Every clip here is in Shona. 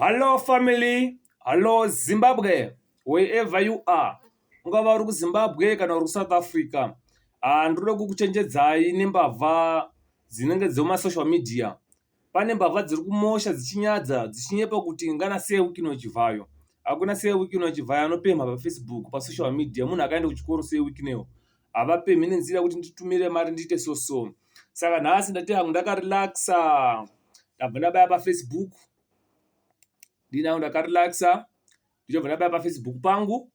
Hallo family, hallo Zimbabwe wherever you are, ungava uri kuZimbabwe kana uri kuSouth Africa. Haa ndoda kukuchenjedzayi nembavha dzinenge dzemumasocial media. Pane mbavha dziri kumusha dzichinyadza dzichinyepa kuti ingana sei week ino chivhayo. Hakuna sei week ino chivhayo anopemha paFacebook, pasocial media munhu akaenda kuchikoro sei week ino. havapemhi nenzira yekuti nditumire mari ndiite so so saka nhasi ndati hangu ndakarelaxa ndabva ndabaya pafacebook ndinangu ndakarelaxa ndichobva ndabaya pafacebook pangu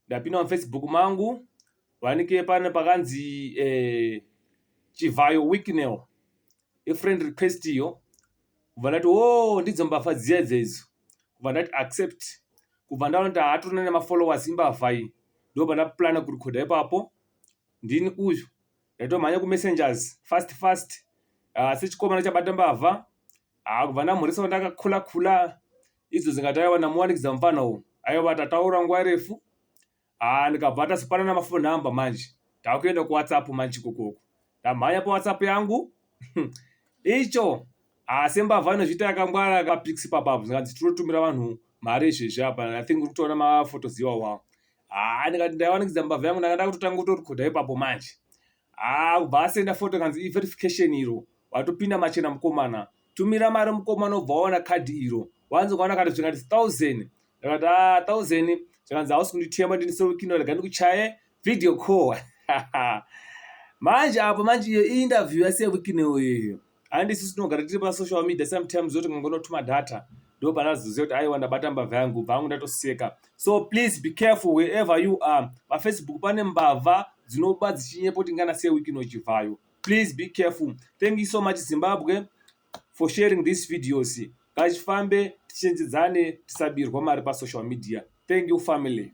ndapinda mufacebook mangu vanike pane pakanzi eh, chivhayo wicknel ifriend request iyo kubva ndati wo oh, ndidzo mbavha dziya idza idzo kubva ndati accept kubva ndaona kuti haatorina nemafollowers imbavha iyi ndobva ndaplana kurikhodha ipapo ndini uyu ndaitomhanya kumessengers fast fast ah, asi chikomana chabata mbavha ah, kubva ndamhurisa wandakakhula khula idzo dzingataiwa namuwanikidza mufana uwu aiwa tataura nguva refu Haa ndikabva tasipanana mafon number manje takuenda kuwhatsapp manje kokoko ndamhanya pawhatsapp yangu icho asi mbavha inozviita yakangwara kapix papabvu zvikanzi tinotumira vanhu mari izvezvi apa i think uri kutoona mafotos iwawawo haa ndikati ndaiwanikidza mbavha yangu ndanga ndakutotanga kutorikodha ipapo manje haa kubva asenda foto kanzi iverification iro watopinda machena mukomana tumira mari mukomana obva waona kadhi iro wanzi kwaona kati zvikanti thousand ndakati a ah, thousand zvikanzi hausi kunditema ndiniseukino rega ndikuchaye video call manje apo manje iyo iinterview yaseukino iyoyo handi sisi tinogara tiri pasocial media sometimes zoti ngangonotuma data ndo panazoziva kuti aiwa ndabata mbavha yangu bva angu ndatoseka so please be careful wherever you are pafacebook pane mbavha dzinoba dzichinyepo tingana sei wiki inochibvayo please be careful thank you so much zimbabwe for sharing these videos ngachifambe tichenjedzane tisabirwa mari pasocial media thank you family